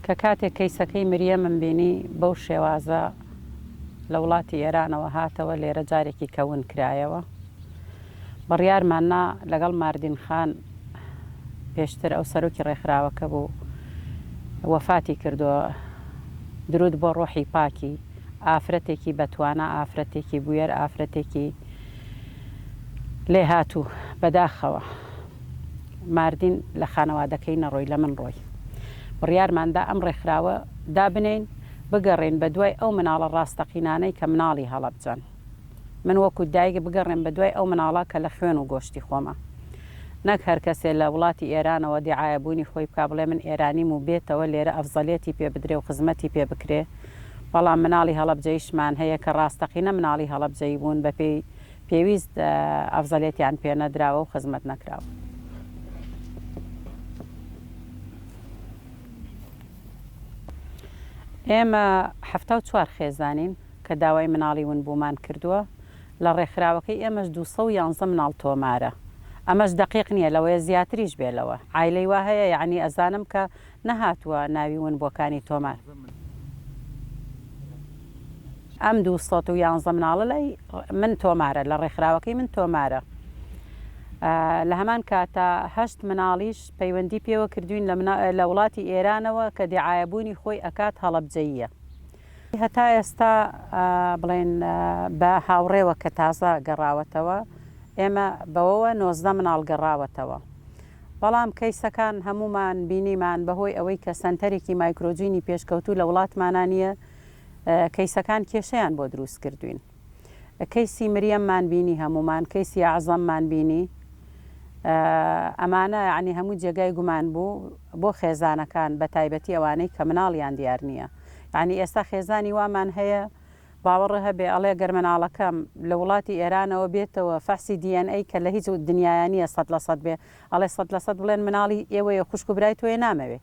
کە کاتێک کەیسەکەی مریەمم بینی بەو شێوازە لە وڵاتی ئێرانەوە هاتەوە لێرە جارێکی کە ون کرایەوە بڕیارمان نا لەگەڵ ماردین خان پێشتر ئەو سەرۆکی ڕێکخراوەکە بوو وەفاتی کردووە درود بۆ ڕۆحی پاکی ئافرەتێکی بەتوانا ئافرەتێکی بوێر ئافرەتێکی لێهاتوو بەداخەوە. ماردین لە خانەوادەکەی نەڕۆی لە من ڕۆی. بڕیارمان دا ئەم ڕێکخراوە دابنێین، بگەڕێین بە دوای ئەو مناڵە ڕاستەقینانەی کە مناڵی هەڵەبجەن. من وەکو دایک بگەڕێم بە دوای ئەو مناڵە کە لە خوێن و گۆشتی خۆمە. نەک هەر کەسێ لە وڵاتی ئێرانەوە دیعایە بوونی خۆی بکا بڵێ من ئێرانیم و بێتەوە لێرە ئەفزەلێتی پێ بدرێ و خزمەتی پێ بکرێ. بەڵام مناڵی هەڵەبجەیشمان هەیە کە ڕاستەقینە مناڵی هەڵەبجەیی بوون بە پێی پێویست ئەفزەلێتیان پێ نەدراوە و خزمەت نەکراوە. ئێمە حەفتا و چوار خێزانین کە داوای مناڵی ونبوومان کردووە، لە ڕێکخراوەکەی ئێمەش دوو سەد و یانزە مناڵ تۆمارە، ئەمەش دەقیق نییە لەوەیە زیاتریش بێ لەوە، عایلەی وا هەیە یەعنی ئەزانم کە نەهاتووە ناوی ون بۆکانی تۆمار ئەم دوو سەد و یانزە مناڵە لای من تۆمارە لە ڕێکخراوەکەی من تۆمارە لە هەمان کاتە هەشت مناڵیش پەیوەندی پێوە کردوین لە وڵاتی ئێرانەوە کە دیعاەبوونی خۆی ئەکات هەڵبجەیە هەتا ئێستا بڵێن بە هاوڕێوە کە تازە گەڕاوەتەوە ئێمە بەوەوە نۆزدە مناڵ گەڕاوەتەوە بەڵام کەیسەکان هەموومان بینیمان بەهۆی ئەوەی کە سەنتەرێکی مایکرۆجینی پێشکەوتوو لە وڵاتمانا نییە کەیسەکان کێشەیان بۆ دروست کردووین کەیسی مریەممان بینی هەموومان کەیسی ئەعزەممان بینی ئەمانە یعنی هەموو جێگای گومان بوو بۆ خێزانەکان بە تایبەتی ئەوانەی کە مناڵیان دیار نییە یعنی ئێستا خێزانی وامان هەیە باوەڕ هەبێ ئەڵێ گەر مناڵەکەم لە وڵاتی ئێرانەوە بێتەوە فەحسی دی ئێن ئەی کە لە هیچ دنیایا نیە سەد لە سەد بێ ئەڵێ سەد لە سەد بڵێن مناڵی ئێوەیە خوشک و برای تۆیە نامەوێ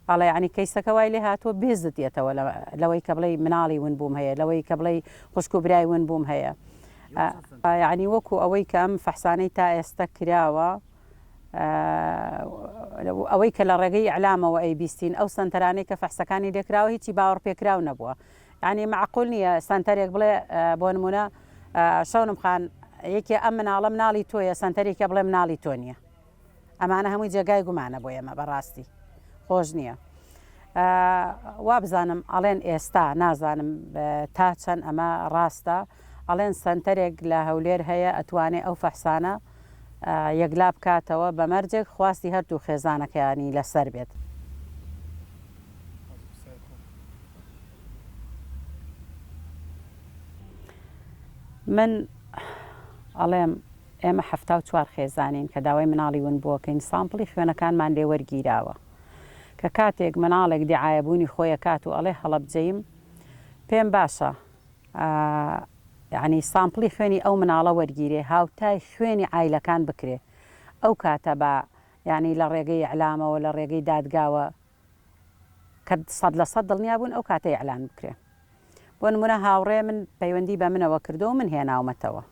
ئەڵێ یانی کەیسەکە وای لێ هاتووە بێزت یەتەوە لەوەی کە بڵێی مناڵی ون بووم هەیە لەوەی کە بڵێی خوشک و برای ون بووم هەیە یانی وەکو ئەوەی کە ئەم فەحسانەی تا ئێستە کراوە ئەوەی کە لە ڕێگەی ئەلامەوە ئەی بیستین ئەو سەنتەرانەی کە فەحسەکانی لێکراوە هیچی باوەڕ پێکراو نەبووە یانی مەعقول نیە سەنتەرێک بڵێ بۆ نمونە شەونم خان یەکێ ئەم مناڵە مناڵی تۆیە سەنتەرێکە بڵێ مناڵی تۆ نیە ئەمانە هەمووی جێگای گومانە بۆ ئێمە بەڕاستی خۆش نییە وابزانم ئەڵێن ئێستا نازانم تا چەند ئەمە ڕاستە ئەڵێن سەنتەرێک لە هەولێر هەیە ئەتوانێ ئەو فەحسانە یەکلا بکاتەوە بە مەرجێک خواستی هەردوو خێزانەکەیانی لەسەر بێت. من ئەڵێم ئێمە حەفتا و چوار خێزانین کە داوای مناڵی ونبووەکەین سامپڵی خوێنەکانمان لێ وەرگیراوە کە کاتێک مناڵێک دیعایەبوونی خۆی ئەکات و ئەڵێ هەڵەبجەیم پێم باشە ئا یەعنی سامپڵی خوێنی ئەو مناڵە وەرگیرێ هاوتای خوێنی عایلەکان بکرێ ئەو کاتە با یەعنی لە ڕێگەی ئیعلامەوە لە ڕێگەی دادگاوە کە سەد لە سەد دڵنیا بوون ئەو کاتە ئیعلان بکرێ بۆ نمونە هاوڕێ من پەیوەندی بە منەوە کردو و من هێناومەتەوە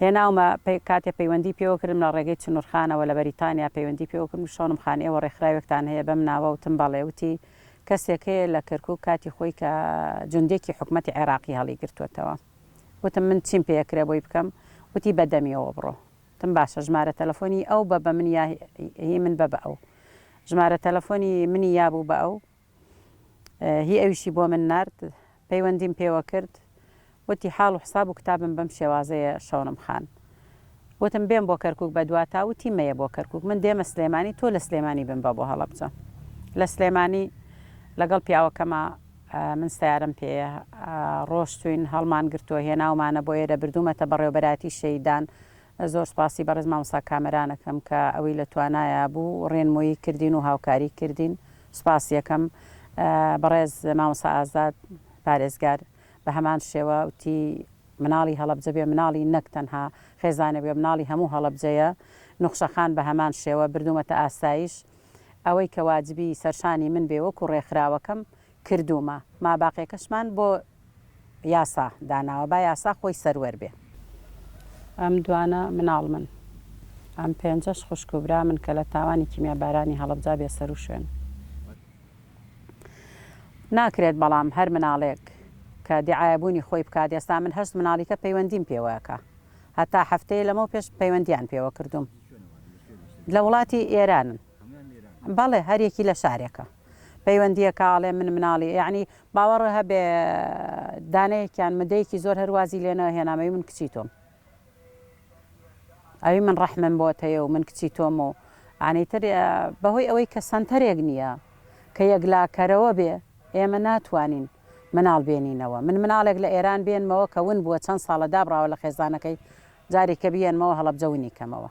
هێناومە پەی کاتێ پەیوەندی پێوە کردم لە ڕێگەی چنورخانەوە لە بەریتانیا پەیوەندی پێوە کردم شەونم خان ئێوە ڕێکخراوێکتان هەیە بەم ناوە وتم بەڵێ وتی کەسێک هەیە لە کەرکوک کاتی خۆی کە جوندێکی حکومەتی عێراقی هەڵی گرتووەتەوە وتم من چیم پێ ئەکرێ بۆی بکەم وتی بە دەمیەوە بڕۆ وتم باشە ژمارە تەلەفۆنی ئەو بە بە من یا هی من بە بە ئەو ژمارە تەلەفۆنی منی یابوو بە ئەو هی ئەویشی بۆ من نارد پەیوەندیم پێوە کرد وتی حاڵ و حساب و کتابم بەم شێوازەیە شەونم خان وتم بێم بۆ کەرکوک بە دواتا وتی مەیە بۆ کەرکوک من دێمە سلێمانی تۆ لە سلێمانی بمبە بۆ هەڵەبجە لە سلێمانی لەگەڵ پیاوەکەما من سەیارەم پێیە ڕۆشتوین هەڵمان گرتوە هێناومانە بۆ ئێرە بردومەتە بەڕێوبەرایەتی شەیدان زۆر سوپاسی بەڕێز مامۆستا کامەران ئەکەم کە ئەوی لە توانایا بوو ڕێنمۆیی کردین و هاوکاری کردین سوپاسی ئەکەم بەڕێز مامۆستا ئازاد پارێزگار بە هەمان شێوە وتی مناڵی هەڵەبجە بێ مناڵی نەک تەنها خێزانێک بێ مناڵی هەموو هەڵەبجەیە نوخشە خان بە هەمان شێوە بردومەتە ئاسایش ئەوەی کە واجبی سەرشانی من بێ وەکو ڕێکخراوەکەم کردوومە ماباقیەکەشمان بۆ یاسا داناوە با یاسا خۆی سەروەر بێ. ئەم دوانە مناڵمن ئەم پێنجەش خوشک و برامن کە لە تاوانی کیمیا بارانی هەڵەبجا بێ سەرو شوێن ناکرێت بەڵام هەر مناڵێک کە دیعایە بوونی خۆی بکات ئێستا من هەشت مناڵیکە پەیوەندیم پێوەکە هەتا هەفتەیە لەمەو پێش پەیوەندیان پێوە کردووم لە وڵاتی ئێرانن بەڵێ هەریەکی لە شارێکە. پەیوەندیەکە ئەڵێ من مناڵی یەعنی باوەڕ هەبێ دانەیەکیان مدەیەکی زۆر هەر وازی لێ نە هێنام ئەوی من کچی تۆم ئەوی من ڕەحمم بۆت هەیە و من کچی تۆم و ئانی تر بەهۆی ئەوەی کە سەنتەرێک نییە کە یەکلاکەرەوە بێ ئێمە ناتوانین مناڵ بێنینەوە من مناڵێک لە ئێران بێنمەوە کە ون بووە چەند ساڵە دابڕاوە لە خێزانەکەی جارێکە بیێنمەوە هەڵەبجە ونی کەمەوە